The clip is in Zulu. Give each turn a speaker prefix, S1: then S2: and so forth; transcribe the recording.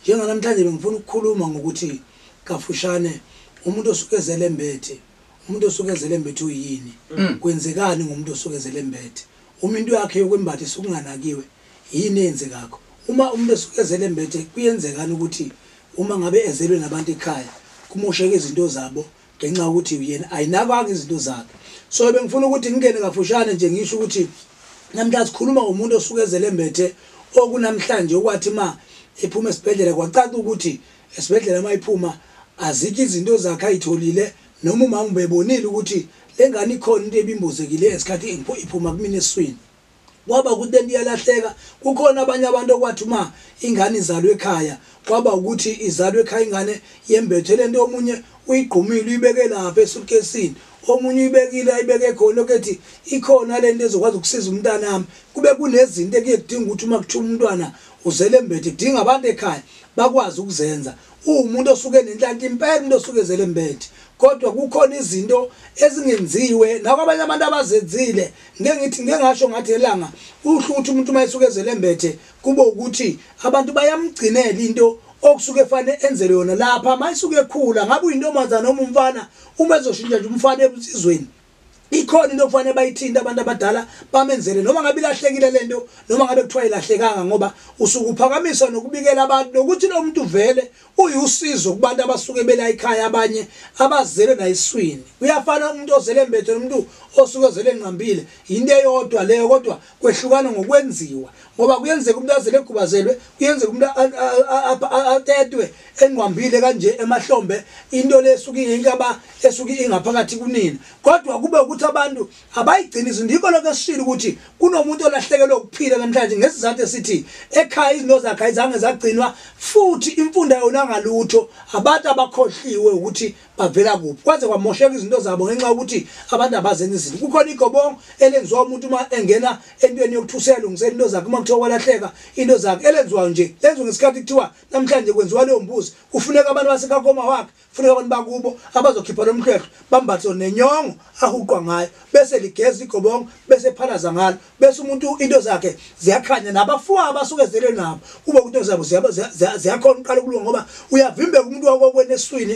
S1: Njenganamhlanje bengifuna ukukhuluma ngokuthi kafushane umuntu osuke ezele embethe, umuntu osuke ezele embethe uyini, kwenzekani ngomuntu osuke ezele embethe, uma into yakhe yokwembatha isuke inganakiwe yini eyenzekakho, uma umuntu esuke ezele embethe kuyenzekani ukuthi uma ngabe ezelwe nabantu ekhaya kumosheke izinto zabo, ngenxa yokuthi uyena ayinakanga izinto zakhe so bengifuna ukuthi ngingene kafushane nje ngisho ukuthi namhlanje sikhuluma ngomuntu osuke ezelembethe okunamhlanje okwathi ma ephuma esibhedlela kwacaca ukuthi esibhedlela uma iphuma azikho izinto zakhe ayitholile noma umama ubebonile ukuthi le ngane ikhona into ebimbozekile esikhathi iphuma kumina eswini kwaba ukuthi lento iyalahleka kukhona abanye abantu okwathi uma ingane izalwe ekhaya kwaba ukuthi izalwe ekhaya ingane yembethe lento omunye uyigqumile uyibeke lapha esuitcasini omunye uyibekile ayibeke khona okethi ikhona lento ezokwazi ukusiza umntanami kube kunezinto ekuye kudinga ukuthi uma kuthiwa umntwana uzele embethe kudinga abantu ekhaya bakwazi ukuzenza uwumuntu osuke nenhlanhla impela umuntu osuke ezele embethe kodwa kukhona izinto ezingenziwe nakwabanye abantu abazenzile Ngike ngithi ngike ngasho ngathi elanga uhlu ukuthi umuntu uma esuke ezele mbethe kube ukuthi abantu bayamgcinela into okusuke fane enzele yona lapha mayisuke ekhula ngabe uyintombazana noma umfana uma ezoshintsha nje umfana ebusizweni ikhona into okufanele bayithinta abantu abadala bamenzele noma ngabe ilahlekile lento noma ngabe kuthiwa ilahlekanga ngoba usukuphakamiswa nokubikela abantu nokuthi lo muntu vele Uyusizo kubantu abasuke belayikhaya abanye abazelwe nayiswini. Kuyafana umuntu ozele mbethe nomuntu osuke ozele nqambile. Yinto eyodwa leyo kodwa kwehlukana ngokwenziwa. Ngoba kuyenzeka umuntu azele egubazelwe, kuyenzeka umuntu atetwe enqambile kanje emahlombe into lesuke ingaba esuke ingaphakathi kunina. Kodwa kube ukuthi abantu Abayiqiniso ndikho lokho esishilo ukuthi kunomuntu olahlekelwe ukuphila namhlanje ngesizathu esithi ekhaya izinto zakhe ayizange zagcinwa futhi imfunda yona ngalutho abantu abakhohliwe ukuthi bavela kuphi kwaze kwamosheka izinto zabo ngenxa yokuthi abantu abazenzi izinto kukhona igobongo elenziwa umuntu uma engena entweni yokuthi useyalungisela into zakhe uma kuthiwa kwalahleka into zakhe elenziwayo nje lenziwa ngesikhathi kuthiwa namhlanje kwenziwa leyo mbuzi kufuneka abantu basekakoma wakhe Funeka abantu bakubo abazokhipha lo mhlwehlwe bambathe nenyongo ahuqwa ngayo bese ligeza igobongo bese phalaza ngalo bese umuntu into zakhe ziyakhanya nabafuwa abasuke zele nabo kube ukuthi zabo ziyakhona uqala ukulunga ngoba uyavimbeka umuntu wakokweni eswini